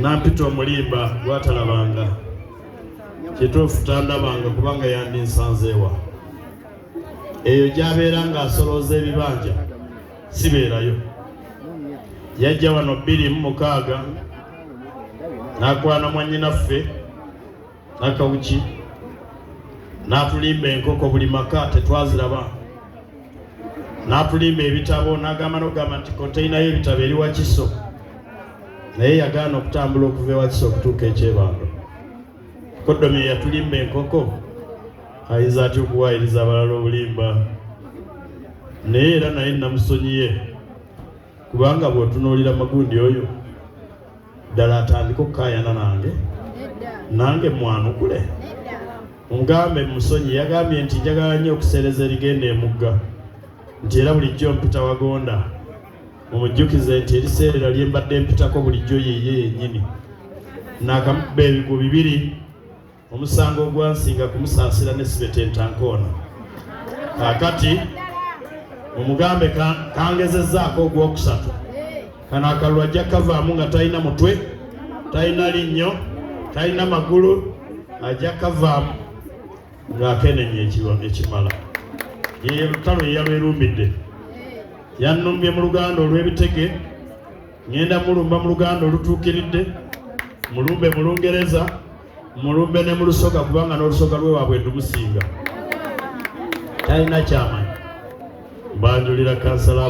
nampita omulimba gwatalabanga kituufu tandabanga kubanga yandinsanzeewa eyo gyabeera ng'asolooza ebibanja sibeerayo yajja wano bbiri mu mukaaga n'akwana mwannyinaffe nakawuki n'atulimba enkoko buli maka tetwaziraba n'atulimba ebitabo n'agamba n'okugamba nti konteyina y'ebitabo eri wakiso naye yagaana okutambula okuva ewakiso okutuuka ekyebando kodomi eyatulimba enkoko ayinza atya okuwaayiriza abalala obulimba naye era naye namusonyiye kubanga bw'otunuulira magundi oyo ddala atandika okukayana nange nange mwanukule mugambe musonyi yagambye nti njagala nnyo okuseereza erigenda emugga nti era bulijjo mpita wagonda mumujjukize nti eriseerera lye mbadde mpitako bulijjo yeye yennyini nakamukuba ebigwo bibiri omusango ogwansinga kumusaasira ne sibetenta nkoona kakati mumugambe kangezezaako ogwokusatu kano akalulu ajja kavaamu nga talina mutwe talina linnyo talina magulu ajja kavaamu ng'akenenya ekimala yeyo lutalo yeyalwerumbidde yannumbye mu luganda olw'ebitege ŋenda mulumba mu luganda olutuukiridde mulumbe mu lungereza mu lumbe ne mu lusoga kubanga n'olusoga lwe waabwe ndumusinga talina kyamanyi mbanjulira kansala